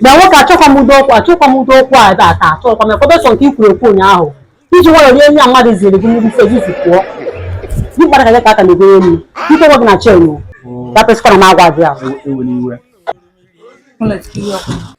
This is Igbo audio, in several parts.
na nwoke achọkwa m udo okwu achọkwa m udo okwu a ebe a taa achọkwa m ya kọbesọ nke i kwuru okwu ụnyaahụ i ji nwayọ rie nri a mmadụ ziri gị mmiri ise gị si pụọ gị kpara ka gị ka aka na-egoro elu ike nwe gị na chen ya pesịkwa na m agwa gị ahụ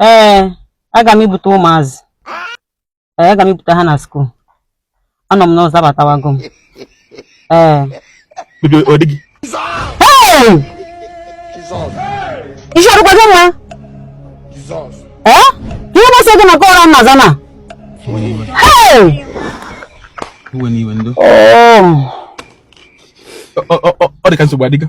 ee aga m ibute ụmụazị ee aga m ibute ha na school anọ m n'ụzọ abatawago m ee ọ dịghị ihe ọ dịkwa gị mma ee ihe masị gị maka ụra nna zana iwe n'iwe ndo ọ dị ka nsogbu adịgo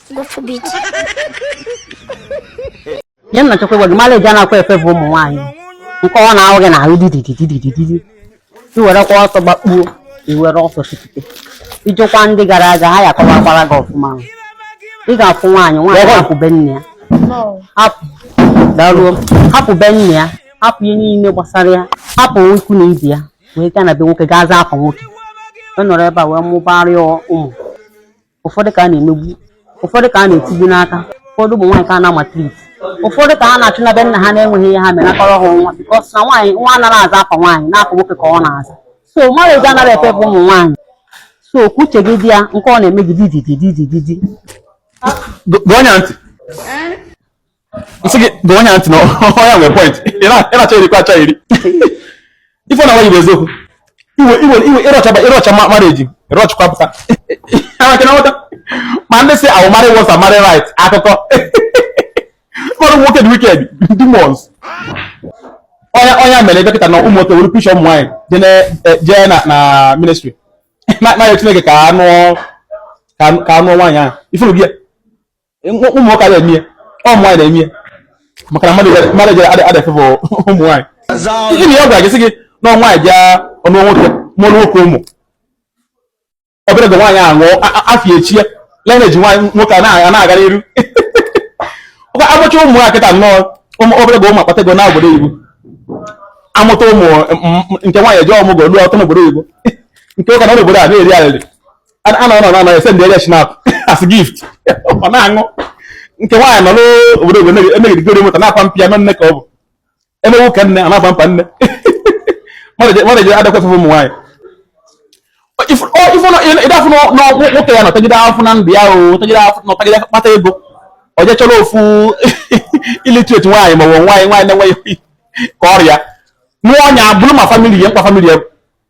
nye nna chekwa gị mara eji a na-akwa efe bụ ụmụ nwaanyị nke ọ na-ahụ gị n'ahụ dididididididi i werekwa ọsọ gbakpuo i were ọsọ chipụte i jekwa ndị gara aga ha ya kọwakwara gị ọfụma ị ga-afụ nwaanyị nwaanyị hapụ be nne ya hapụ daruo hapụ be nne ya hapụ ihe niile gbasara ya hapụ ikwu na ibe ya wee gaa na be nwoke gaa zaa afa nwoke ọ nọrọ ebe a wee mụbara ya ụmụ ụfọdụ ka a na-emegbu ụfọdụ ka a na-etigbu n'aka ụfọdụ ụmụ nwaanyị ka a na-amaltreat ụfọdụ ka a na-achụ na be nna ha na-enweghị ihe ha mere akọrọ ha nwa because na nwaanyị nwa anaghị aza afa nwaanyị na afa nwoke ka ọ na-aza so mmadụ ego anaghị efe bụ ụmụ nwaanyị so ka uche gị dị ya nke ọ na-eme gị didididididi gee ya ntị. m sị gị gee ya ntị na ọ ya nwere point ị na-achọ iri kwa achọ iri ife na wayibụ eziokwu iwe iwe iwe ịrọchaba ịrọcha mmadụ eji ịrọchakwa pụta amaka na nweta ma ndị si awụ marry wọsa marry right akụkọ mmadụ nwoke dị wicked ndị mọs ọnya ọnya mere dọkịta na ụmụ nwoke were picture ụmụ nwaanyị jee na na ministry na-ayọ chineke ka a nụ ka a nụ nwaanyị ahụ ifuru gị ya ụmụnwoke ada eme ọ nwaanyị na-eme maka na mmadụ jere ada efe bụ ụmụ nwaanyị ihe na ya gwara gị sị gị na nwaanyị bịa ụnọ nwoke mụrụ nwoke ụmụ obere oge nwaanyị ahụ afa echie ya lineage nwaanyị nwoke a na-aga n'iru ọ kwa a mụchaa ụmụ nwaanyị kịta nnọọ obere oge ụmụ akpata ego na obodo oyibo a mụta ụmụ nke nwaanyị eje ọmụgwọ ruo ọtụ n'obodo oyibo nke ụka na obodo a na-eri arịrị a na ọ na ese ndị anya schnapp as gift ọ na-aṅụ nke nwaanyị nọ n'obodo obodo emegidegoro moto na-akwa mpi ya nne ka ọ bụ emewu ka nne a na-akwa mpa nne mmadụ ji adakwasị ụmụ nwaanyị ị ga-afụ nwoke ya nọtagide afụfụ na ndụ ya ọ tagide afụfụ nọtagide kpata ego o je chọrọ ofu illiterate nwaanyị maọbụ nwaanyị nwaanyị na-enweghị ka ọrịa nwa ọ nọ ya buru ma family ya mkpa family ya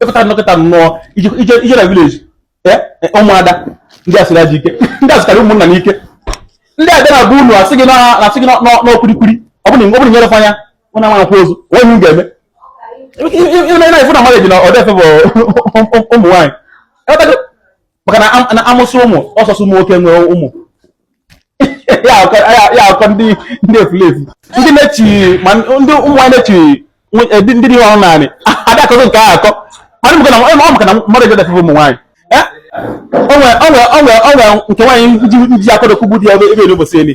ị pụta kịta nnọọ i je na village e, e, ụmụada ndị a siri ajọ ike ndị a sikarị ụmụnna n'ike ndị ada na-abụ unu asị gị na-asị gị n'ọkwurikwuri ọ bụrụ na e nyere fa ya unu ama akwa ozu onye m ga-eme ịna-efu na mmadụ ji na ọdọ efe bụ ụmụ nwaanyị maka na amụsị ụmụ ọ sọsọ ụmụ nwoke nwere ụmụ ya akọ ndị ndị efulefu ndị na-echi ma ndị ụmụ nwaanyị na-echi eh, ndị dị ọhụrụ naanị adị akọzọ nke ahụ akọ mana maka na ọ maka na mmadụ eje defend ụmụ nwaanyị eh? onwe onwe onwe onwe nke nwaanyị ndị akọdokwu bụ dị ebe ebe n'ụbọchị elu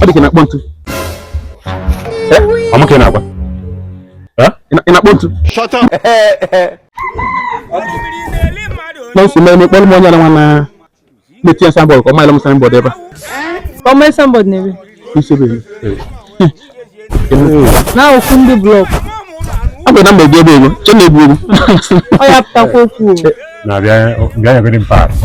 ọ dị ka na-akpọ ntu ọmụ ka ị na-agwa ị na-akpọ ntu n'osisi mee n'ekpọrọ m onye na nwa na na-etinye signboard ka ọ maghịla m signboard ebe a ọma signboard n'ebe isebe na okwu ndị block ọ bụ na mgbe gị ebe ego che na-ebu ego ọ ya pụtakwa okwu na-abịa bịa nyegodi m paasị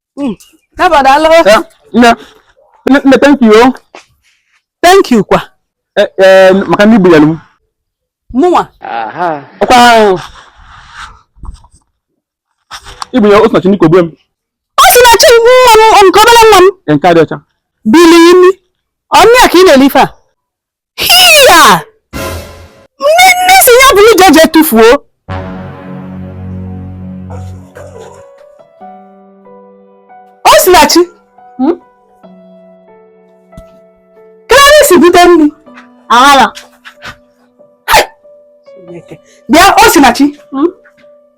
Hmm. Nne, nne, thank you. Oh. Thank you kwa. Eh, eh, maka nni i bunyere m. Mụnwa. Ọkwa ahụ. I bunye Osinachi nke ogbe m. Osinachi nke nwa m nke obere nwa m. Nke a dị ọcha. Bili imi. Ọ onye ka ị na-ele ife a. hiya m sị ya buru je je tụfuo Osinachi hmm? kee ebe i si bute nni aghara bịa Osinachi hmm?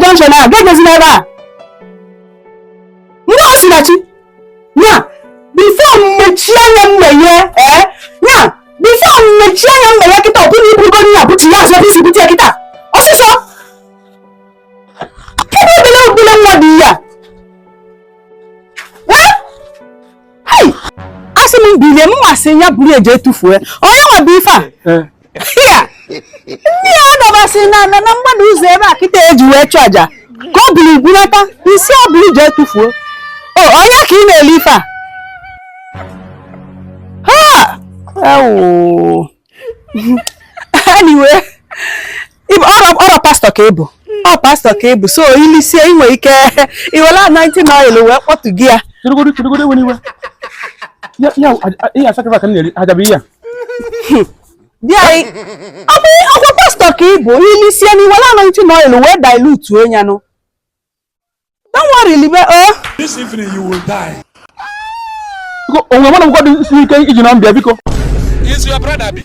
junction a gagazila ebe a ndị Osinachi ya before m mechie anya m meghe ee eh? ya before m mechie anya m meghe kịta ọ bụrụ ibugo nna bụchi ya azụ i si bute kịta ọsịsọ kedu obele obele nwa dị ya eh? asị m bilie m asị ya buru je tụfuo onye nwa bụ ife a eh, ndị a dọbasị n'ana na mgbada ụzọ ebe a kịta e ji wee chụọ aja ka o buru bulata m sị o buru je tụfuo o onye ka ị na-ele ife a ha ewu anyway ọrọ pastọ ka ị bụ ọ pastọ ka ị bụ so i lisie i nwe ike iwere anointing oil wee kpọtụ gị ya bịa ọ bụ ọkwa pastọ ka ị bụ i lisie na i were anointing oil wee dilute onyanụ don't worry libe o oh. this evening you will die onwe mwana mkwado isi ike iji na mbịa biko is your brother bi